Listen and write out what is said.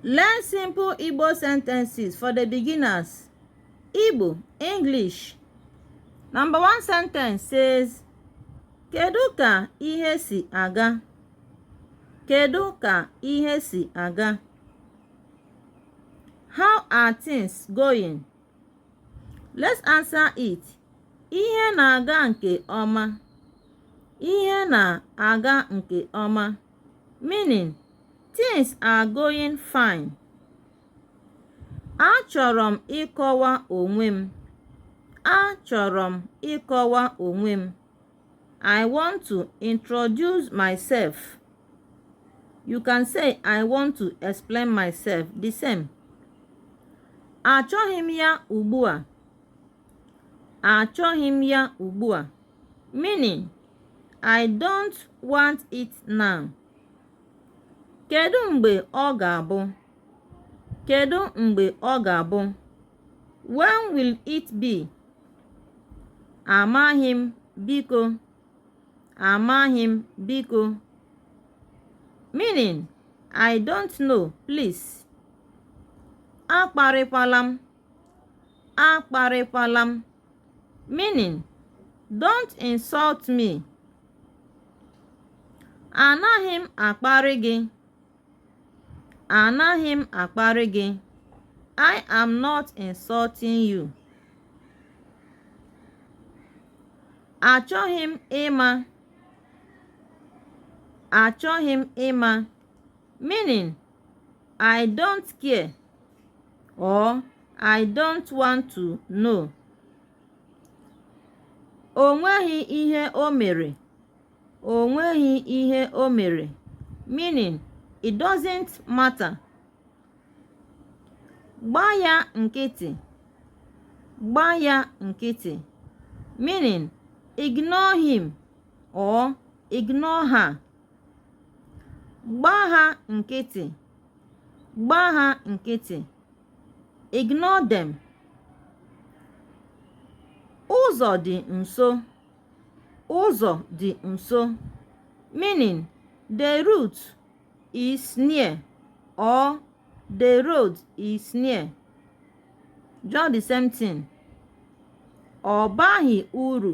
Learn simple Igbo sentences for the beginners. Igbo, English. Number one sentence says, Kedu ka ihe si aga? Kedu ka ihe si aga? How are things going? Let's answer it. Ihe na-aga nke ọma. Ihe na-aga nke ọma. meaning things are going fine achọrọ m ịkọwa onwe m achọrọ m ịkọwa onwe m I want to introduce myself you can say I want to explain myself the same achọghị m ya ugbu a achọghị m ya ugbu a meaning I don't want it now. Kedu mgbe ọ ga-abụ? Kedu mgbe ọ ga-abụ? When will it be? Amaghị m biko. Amaghị m biko. Meaning, I don't know, please. Akparịkwala m. akparịkwala m meaning don't insult me anaghị m akparị gị anaghị m akparị gị I am not insulting you achọghị m ịma achọghị m ịma meaning I don't care or I don't want to know. O nweghị ihe o mere. O nweghị ihe o mere. Meaning, it doesn't matter. Gbaa ya nkịtị. Gbaa ya nkịtị. Meaning, ignore him or ignore her. gbaa ha nkịtị gbaa ha nkịtị ignore them ụzọ dị nso ụzọ dị nso meaning the route is near or the road is near just the same thing ọ baghị uru